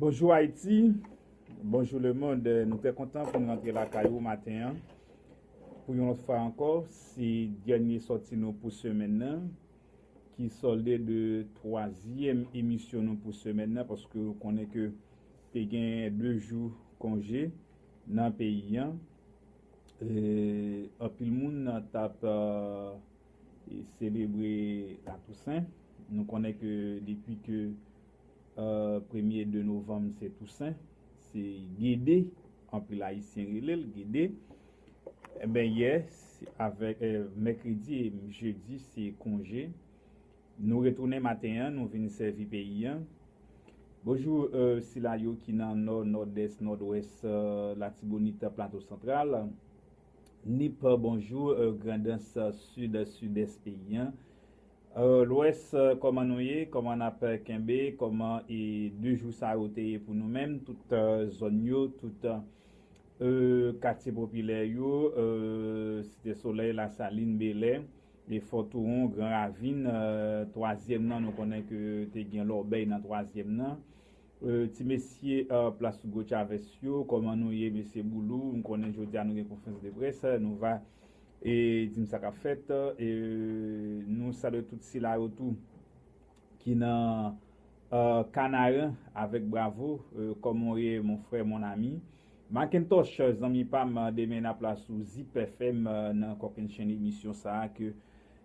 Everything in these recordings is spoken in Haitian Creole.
Bonjou Ayiti, bonjou lemond, nou trè kontan pou nou antre lakay ou maten an pou yon lòt fwa ankò, se dènye sòti nou pou semèn nan ki sòlde de twazyèm emisyon nou pou semèn nan paske ou konnen ke te gen de jou konje nan peyi an e anpil moun tap selebre la Tousen, nou konnen ke depi ke premye 2 novanm se Tousen, se Gede, anpil ayisyen rele l Gede, enben yè avèk mèkredi e jedi se konje, nou retounen maten an nou vin sèvi peyi an, bonjou sila yo ki nan nò, nòdès, nòdwès, latibonit, plato santral. Nip bonjou grandans sud sudès peyi an lwès kòman nou ye kòman nap kenbe kòman e 2 jou sa yo te ye pou nou menm tout zòn yo tout katye popilè yo site solèy lasalin belè e fò touwon gran ravin twazyèm nan nou konnen ke te gen lòbèy nan twazyèm nan Ti mesye plas Hugo Chavez yo koman nou ye mesye Boulou m konnen jodia nou gen konfrans de près nou va dim sa kap fèt nou salwe tout sila yo tou ki nan Kanaran avèk bravo koman w ye mon frè mon ami Makentosh zanmi pam demen nap la sou zipfm nan kokennchenn emisyon sa ke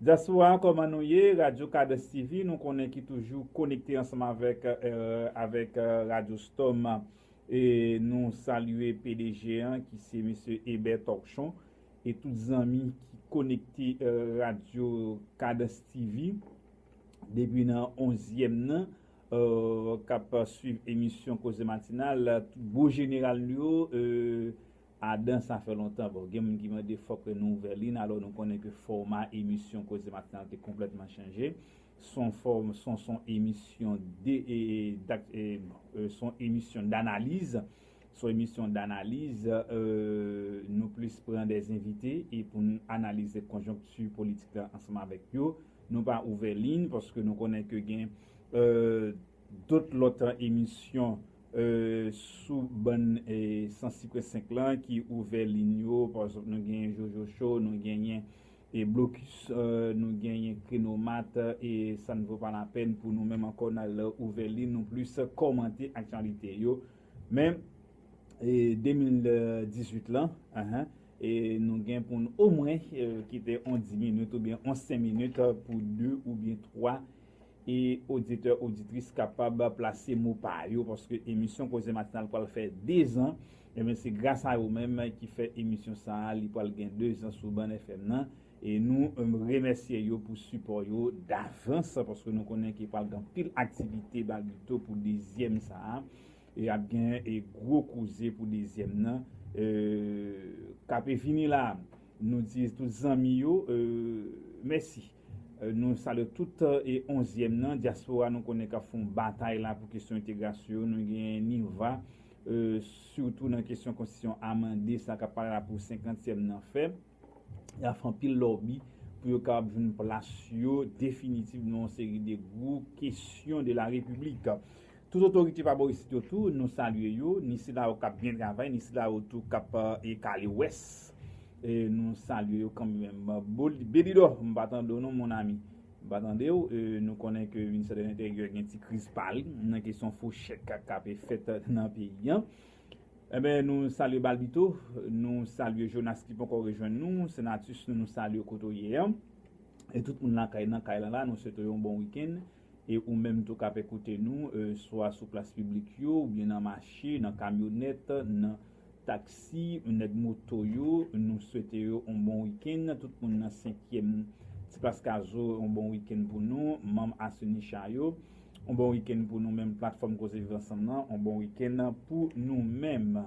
Diaspora koman nou ye radio cadence TV nou konnen ki toujou konekte ansanm avèk avèk radio storm e nou salye pdg an ki se mesye Eber Torchon e tout zanmi ki konekte radio cadence TV depi nan onzyèm nan kap swiv emisyon koze matinal tout gwo jeneral nou yo. Adan sa fè lontan bon gen moun ki mande fòk nou ouvè lin alò nou konnen ke fòma emisyon koze matinal te konplètman chanje son fòm son son emisyon de dak son emisyon danaliz son emisyon danaliz nou plis pran dè envite e pou n analize konjonkti politik la ansanm avèk yo nou pa ouvè lin paske nou konnen ke gen dot lòt emisyon sou bann sans sikre 5 lan ki ouvè lin yo pa egzanp nou genyen jojo show nou genyen blokis nou genyen krenomat e sa n vo pa lapèn pou nou menm ankò n al ouvè lin nou plis kòmante aktyalite yo men 2018 lan nou gen pou n omwen kite yon 10 minit oubyen yon 5 minit pou 2 oubyen 3 e oditè oditris kapab plase mo pa yo paske emisyon koze matinal pral fè 2 zan ebyen se gras a yo menm ki fè emisyon sa li pral gen 2 zan sou bann FM nan e nou remèsye yo pou sipò yo davans paske nou konnen ke pral gen anpil aktivite balbito pou 2 zyèm sa e ap gen gwo koze pou 2 zyèm nan kap vini la. Nou di tout zanmi yo mèsi. Nou salye tout onzièm nan, dyaspora nou konnen kap fon batay la pou kesyon entegrasyon yo, nou gen NIRVA sitou nan kesyon konstitisyon amande sa kap pale la pou senkantyèm nan fè, yap fè anpil lòbi pou yo kapab jwenn plas yo definitiv nan yon seri de gwo kesyon de la repiblik. Tout otorite pa bò isit yo tou nou salye yo, ni sila yo kap byen travay, ni sila yo tou kap e kale wès nou salye yo kanmèm. Belidò m pa tande w non mon ami, m pa tande w, nou konnen ke ministè de l'intérieur gen ti kriz pa li nan kesyon fo chèk kap fèt nan peyi an. Enben nou salye Balbito, nou salye Jonas ki ponkò rejwenn nou, Senatus nou salye w kote w ye an, e tout moun lakay nan kay lan la nou swete w yon bon week-end. E ou menm tou k ap ekoute nou, swa sou plas piblik yo, oubyen nan mache, nan kamyonèt, nan taksi, nèg moto yo, nou swete yo on bon wikenn. Tout moun nan senkyèm Ti Plas Kazo, on bon wikenn pou nou. Manm Asunisha yo, on bon wikenn pou nou menm. Platfòm Koze Viv Ansanm nan, on bon wikenn pou nou menm.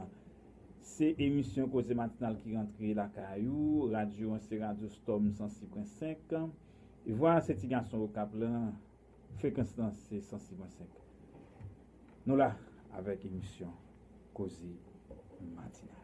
Se emisyon Koze Matinal ki rantre lakay ou. Radyo an se radyo Storm 106.5. Vwa a se ti gason okap lan frekans lan se 106.5 nou la avèk emisyon koze matinal.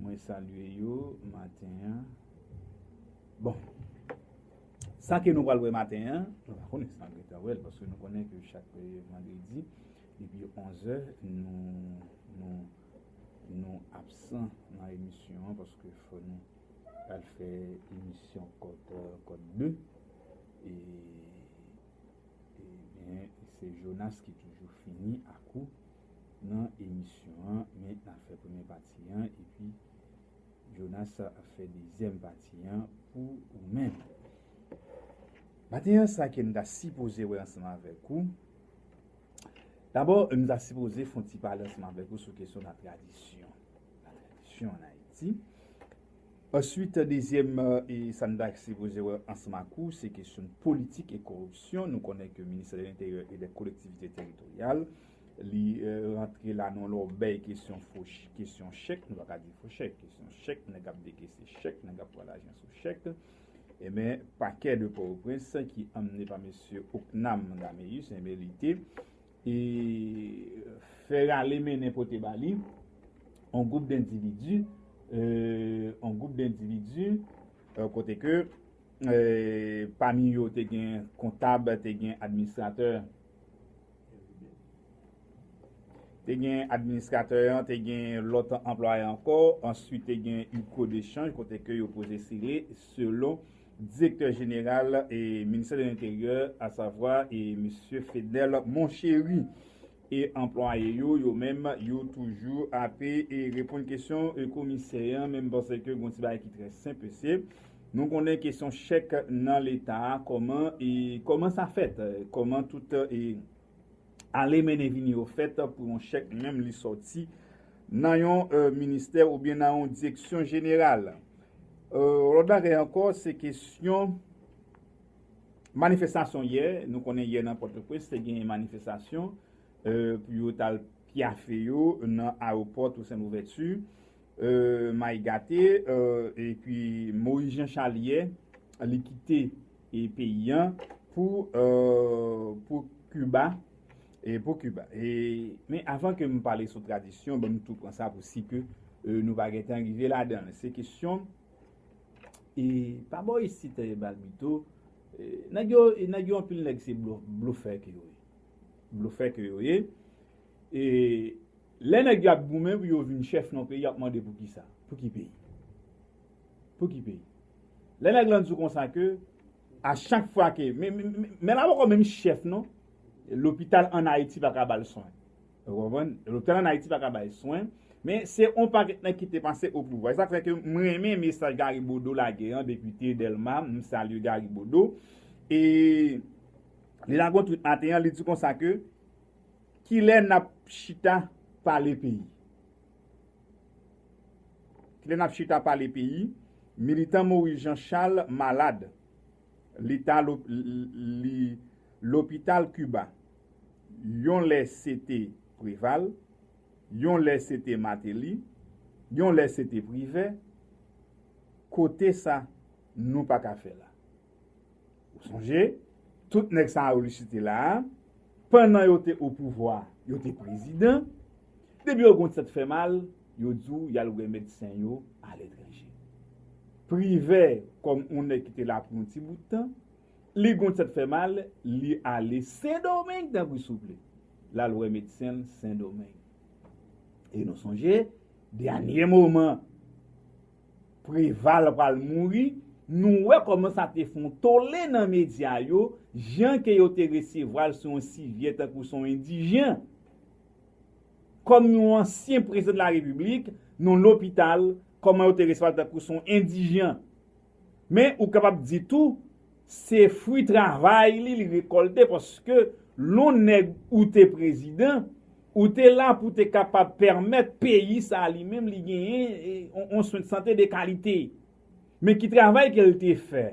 Mwen salye yo maten an. Bon. Sa ke nou pral wè maten an, nou pa konnen si n ap gen tan wè l, paske nou konnen ke chak vandredi, depi 11 è, nou absan nan emisyon an, paske fò nou al fè emisyon kòt 2. E, e byen, se Jonas ki toujou fini ak ou. nan emisyon an men na fè premyè pati an epi Jonas ap fè dezyèm pati an pou ou menm. Maten an sa kem ta sipoze wè ansanm avèk ou dabò m ta sipoze fon ti pale ansanm avèk ou sou kesyon la tradisyon la tradisyon an Ayiti answit dezyèm e sa m ta sipoze wè ansanm ak ou se kesyon politik e koripsyon nou konnen ke ministè de lenteryè e dè kolektivite teritoryal li rantre la nan lòbèy kesyon fo kesyon chèk, nou pa ka di fo chèk, kesyon chèk nèg ap dekese chèk, nèg ap pran lajan sou chèk, enben pakè de Pòtoprens ki anmene pa mesye Ocnam Dameus enben li te e fè rale mennen pote ba li an gwoup dendividi an gwoup dendividi kote ke pami yo te gen kontab, te gen administratè Te gen administratè an, te gen lòt anplwaye ankò, answit te gen yon kou de chanj kote ke yo poze sere selon direktè jeneral e ministè de l'interyè a savwa e misye Fedel Monchery e anplwaye yo, yo menm yo toujou ape e reponn kesyon e komisè an menm panse ke yon ti bagay ki trè senp e se. Nou konnen kesyon chèk nan leta a kòman e kòman sa fèt, kòman tout e ale mennen vini yo fèt pou yon chèk menm li sòti nan yon ministè oubyen nan yon direksyon jeneral. Yon lòt bagay ankò se kesyon manifestasyon yè, nou konnen yè nan Pòtoprens te genyen manifestasyon pou yo t al pyafe yo nan awopò Tousen Louvèti May gate epi Moïse Jean Charles yè li kite peyi an pou Cuba men avan ke m pale sou tradisyon banm tou pran sa pou si ke nou pa gen tan rive ladan se kesyon e pa bò isit balbito nèg yo anpil nèg se blofè ke yo ye blofè ke yo ye E lè nèg yo ap goumen pou yo vin chèf yon peyi y ap mande pou kisa? Pou ki peyi? Pou ki peyi? Lè nèg lan di w konsa ke a chak fwa ke men la poko menm chèf non lopital an Ayiti pa ka ba l swen ou konprann lopital an Ayiti pa ka bay swen men se yon pakèt nèg ki te pase opouvwa e sa k fè ke m renmen mesaj Gari Bodo lage an depite Dèlma m salye Gari Bodo e li lage yon twit maten an li di konsa ke Kilè nap chita pale peyi? Kilè nap chita pale peyi? Militan Maurice Jean Charles malad, li ta li lopital Kiba. Yon lè se te Preval, yon lè se te Mateli, yon lè se te Privè, kote sa nou pa ka fè la. Ou sonje, tout nèg sa yo li site la a, pannan yo te opouvwa, yo te prezidan, depi yo gon tèt fè mal, yo di w y al wè medsen yo aletranje. Privè, kòm on nèg ki te la pou yon ti bout tan, li gon tèt fè mal, li ale Sendomeng tank ou souple, l al wè medsen l Sendomeng. E nou sonje, dènye moman! Preval pral mouri, nou wè kòman sa te fon tole nan medya yo, jan ke yo te resevwal sou yon sivyè tankou son endijen. Kòm yon ansyen prezidan de la repiblik, non lopital, kòman yo te resevwal tankou son endijen. Men ou kapab di tou, se fwi travay li li rekòlte paske lon nèg ou te prezidan, Ou te la pou te kapab pèmèt peyi sa li menm li genyen yon swen sante de kalite. Men ki travay ke l te fè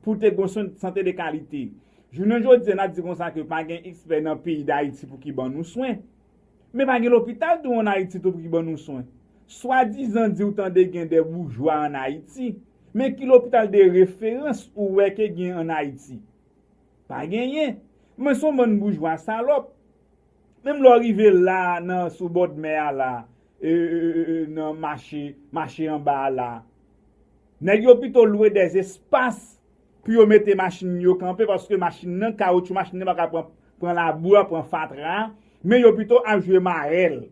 pou te gen yon swen sante de kalite. Jounen jodi an ap di konsa ke pa gen ekspè nan peyi Dayiti pou ki ban nou swen. Men pa gen lopital tou an Ayiti tou pou ki ban nou swen. Swadizan di ou tande gen de boujwa an Ayiti. Men ki lopital de referans ou wè ke gen an Ayiti? Pa genyen. Men son bann boujwa salòp. Menm lè w rive la nan sou bòdmè a la nan mache mache anba a la nèg yo pito lwe dè espas pou yo mete machin yo kanpe paske machin nan kawotchou machin nan pa ka pran labou a pran fatra a men yo pito ap jwe marèl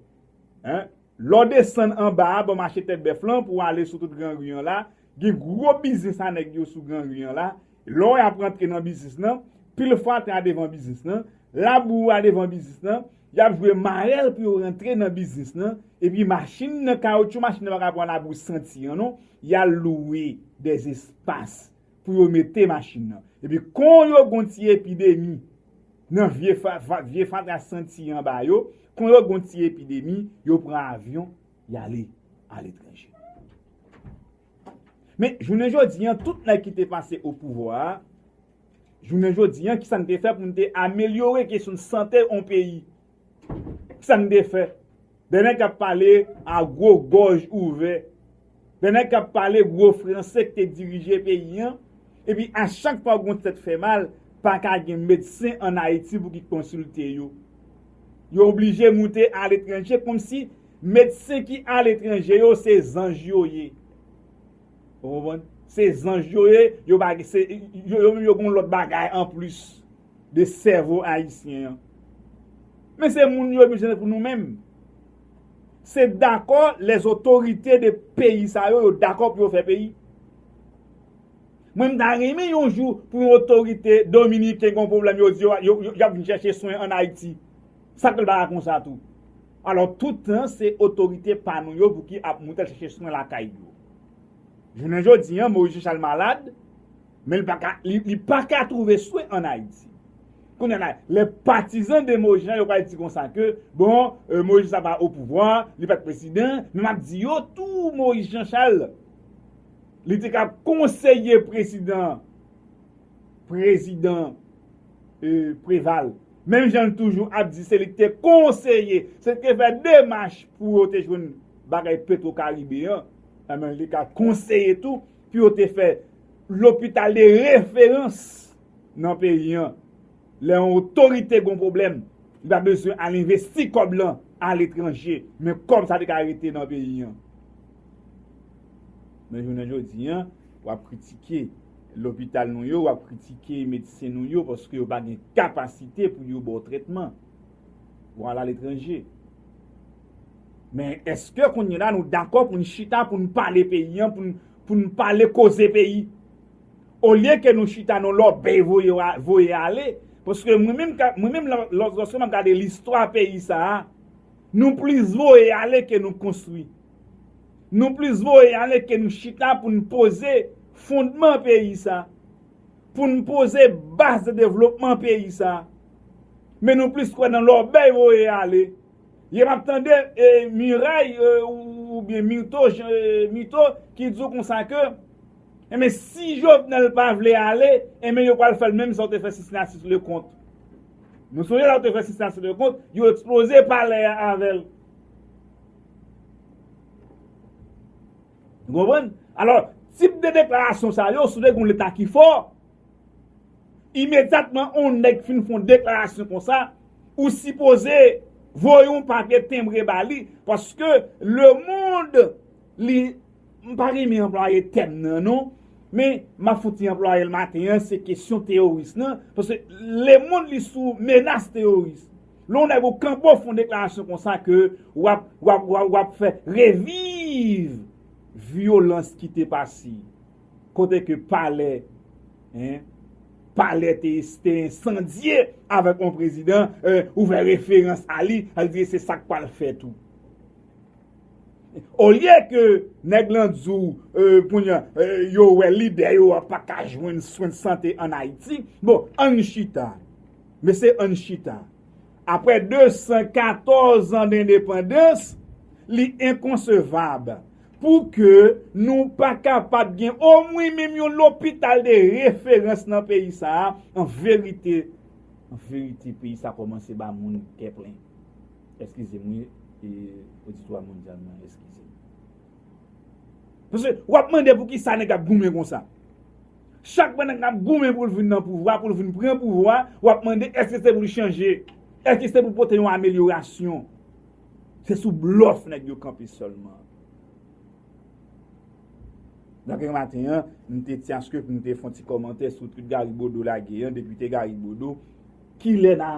Lè w desann anba a bò mache Tèt Bèf lan pou w ale sou tout Gran Ri an la, gen gwo biznis a nèg yo sou Gran Ri an la. Lè w ap rantre nan biznis lan, pil fatra a devan biznis lan, labou a devan biznis lan, y ap jwe marèl pou yo rantre nan biznis lan. Epi machin nan, kawotchou machin nan pa ka pran labou santi an non, y al louwe dèzespas. pou yo mete machin nan. Epi kon yo gon ti epidemi nan vye fatra santi an ba yo, kon yo gon ti epidemi, yo pran avyon, y ale aletranje. Men, jounen jodi an, tout nèg ki te pase o pouvwa a, jounen jodi an, ki sa n te fè pou n te amelyore kesyon sante on peyi? Sa n te fè? De nèg k ap pale a gwo gòj ouvè, de nèg k ap pale gwo franse k te dirije peyi an, epi a chak fwa gwo tèt fè mal, pa ka gen medsen ann Ayiti pou ki konsilte yo. Yo oblije moute aletranje kòmsi medsen ki aletranje yo se zanj yo ye. Ou konprann? Se zanj yo ye, yo pa gen, yo menm yo gen yon lòt bagay anplis. de sèvo ayisyen an. Men se moun yo bezwen pou nou menm. Se dakò les otorite de peyi sa yo yo dakò pou yo fè peyi. Mwen m ta renmen yon jou pou yon otorite dominiken gen yon pwoblèm yo di yo y ap vin chèche swen an Ayiti. Sa k fè l pa ka konsa tou? Alò toutan se otorite pa nou yo pou ki ap moute chèche swen lakay yo. Jounen jodi an Moise Jean Charles malad. Men li pa ka, li pa ka trouve swen an Ayiti. Kounye a la, lè patizan de Moïse Jean yo pral di konsa ke, bon, Moïse Jean sa pa opouvwa, li pat prezidan, men map di yo tou Moïse Jean Charles, li te ka konseye prezidan, prezidan Preval. Menm jan li toujou ap di se li ki te konseye, se li ki te fè demach pou yo te jwenn bagay petro karibe an, enben li ka konseye tou pou yo te fè lopital de referans nan peyi an. Lè yon otorite gon pwoblèm, li pa bezwen al envesti kòb lan aletranje, men kòb sa te ka rete nan peyi an. Men jounen jodi an, w ap kritike lopital nou yo, w ap kritike medsen nou yo paske yo pa gen kapasite pou yo ba w trètman. Ou al aletranje. Men eske kounye la nou dakò pou n chita pou n pale peyi an, pou n pale koze peyi? Olye ke nou chita nou lòbèy voye ale, paske mwen menm lòske mwen ap gade listwa peyi sa a, nou plis voye ale ke nou konstwi. Nou plis voye ale ke nou chita pou n poze fondman peyi sa a, pou n poze baz de devlopman peyi sa a. Men nou plis kwè nan lòbèy voye ale. Ye map tande e miray ou byen mito jan mito ki di w konsa ke enben si jovenel pa vle ale enben yo pral fèl menm sa yo te fè sisnasis lekont nou sonje la yo te fè sisnasis lekont yo eksploze palè a avèl nou konprann alò tip de deklarasyon sa yo sou de gon leta ki fò. Imedyatman on nèg fin fon deklarasyon konsa, ou sipoze voye on papye tenbre ba li paske le mond li, m pa renmen anplwaye tèm nan non, men m ap fon ti anplwaye l maten an, se kesyon teyoris nan, paske le mond li sou menas teyoris. Lè on nèg ou kanbo fon deklarasyon konsa ke w ap fè reviv vyolans ki te pase. Kote ke palè hein palè te te ensandye avèk yon prezidan ou fè referans a li sa vle di se sak pral fèt ou olye ke nèg lan di w kounya yo wè lidè yo a pa ka jwenn swen de sante an ayiti bon ann chita mesye ann chita aprè 214 an dendepandans li enkonsevab Pou ke nou pa kapab gen omwen menm yon lopital de referans nan peyi sa a, an verite, an verite peyi sa a kòmanse ba moun kè plen. Eskize m wi, oditwa mondyal mwen eskize m. Paske w ap mande pou ki sa nèg ap goumen kon sa. Chak fwa nèg ap goumen pou l vin nan pouvwa, pou l vin pran pouvwa, w ap mande eske se pou l chanje, eske se pou pote yon amelyorasyon. Se sou blòf nèg yo kanpe sèlman. Dapre maten an, m te ti aske pou m te fè yon ti kòmantè sou twit Gary Bodeau lage an, depite Gary Bodeau, kilè n a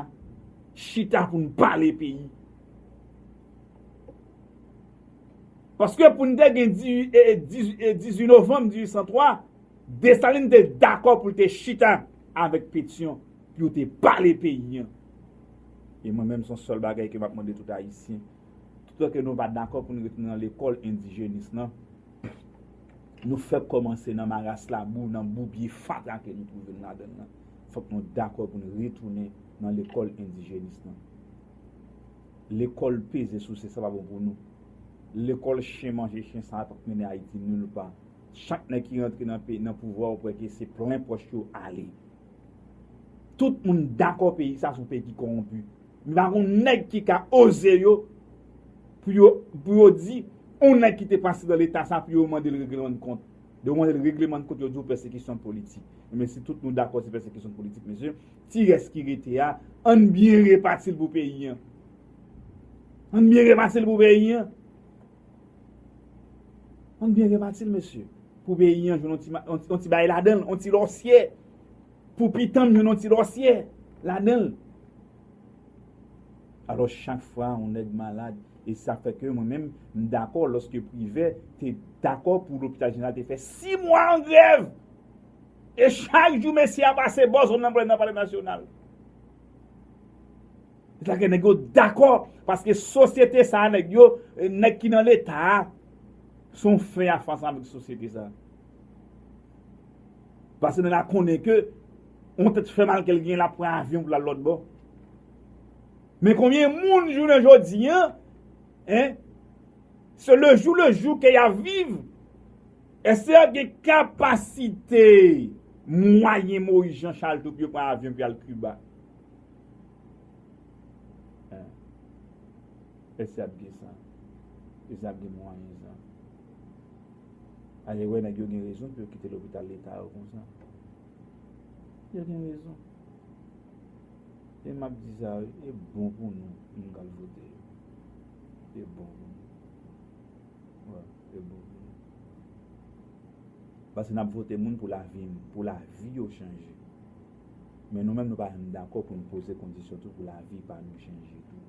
chita pou n pale peyi? Paske pou n te gen 18 novanm 1803, Dessalines te dakò pou l te chita avèk Pétion pou yo te pale peyi an. E mwen menm son sèl bagay ke map mande tout ayisyen, tout an ke nou pa dakò pou nou rete nan lekòl endijenis lan, nou fèk kòmanse nan maras labou, nan boubye fatra ke nou twouve nou ladann lan, fòk nou dakò pou nou retounen nan lekòl endijenis lan. Lekòl peze souse sa pa bon pou nou. Lekòl chen manje chen sa pap mennen ayiti nil pa. Chak nèg ki rantre nan pouvwa ou kwè ke se plen pòch yo ale. Tout moun dakò peyi sa son pegi kowonpi. M pa konn nèg ki ka oze yo pou yo pou yo di on nèg ki te pase nan leta sa pou yo mande l reglemann kont. Lè yo mande l reglemann kont yo di w pèsekisyon politik. Enben si tout nou dakò se pèsekisyon politik mesye, ti rès ki rete a ann byen repati l pou peyi an. Ann byen repati l pou peyi an. Ann byen repati l mesye. Pou peyi an jwenn yon ti bagay ladan l, yon ti lòsyè. Pou pitan m jwenn yon ti lòsyè ladan l. Alò chak fwa yon nèg malad, e se sa k fè ke mwen menm m dakò lòske Privè te dakò pou lopital jeneral te fè 6 mwa an grèv! E chak jou mesye a pase bò zòn nan pou l al nan palè nasyonal. Se sa k fè nèg yo dakò paske sosyete sa a nèg yo, nèg ki nan leta a se yon fè a fas avèk sosyete sa a. Paske nèg la konnen ke yon tèt fè mal ke l genyen l ap pran avyon pou l al lòtbò. Men konbyen moun jounen jodi an se lejou lejou ke y ap viv? Èske y ap gen kapasite mwayen Moyiz Janchal tou pou yo pran avyon pou y al Kiba? Hein Esi ap gen san Esi ap gen mwayen san Ayewe nèg yo gen rezon pou yo kite lopital leta yo konsa Yo gen rezon E map di sa wi e bon pou nou moun kap vote yo E bon pou nou Wè e bon pou nou Paske nap vote moun pou lavi pou lavi yo chanje. Men nou menm nou pa janm dakò pou n poze kondisyon tou pou lavi pa nou chanje tou.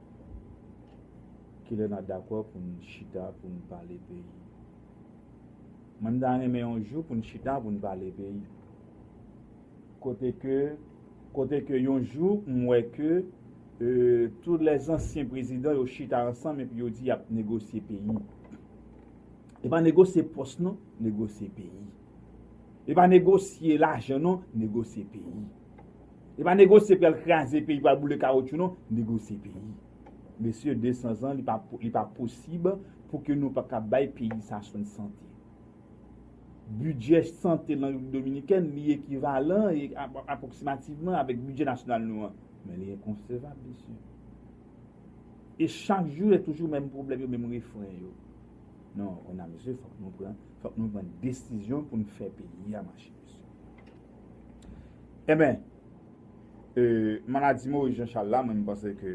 Kilè n ap dakò pou n chita pou n pale peyi? Mwen m ta renmen yon jou pou n chita pou n pale peyi. Kote ke, kote ke yon jou m wè ke tout lè zansyen prezidan yo chita ansanm epi yo di y ap negosye peyi. E pa negosye pòs non, negosye peyi. E pa negosye lajan non, negosye peyi. E pa negosye pral kraze peyi, pral boule kawotchou non, negosye peyi. Mesye 200 zan li pa posib pou ke nou pa ka bay peyi sa swen sante. Bidjè sante nan Repiblik Dominikèn li ekivalan e apwoksimativman avèk bidjè nasyonal nou an. Men li enkonsevab mesye. E chak jou e toujou menm pwoblèm yo, menm refren yo. Non on a mesye fòk nou pran, fòk nou pran desizyon pou nou fè peyi a mache mesye. Eben, maladi Moris Janchal la mwen panse ke.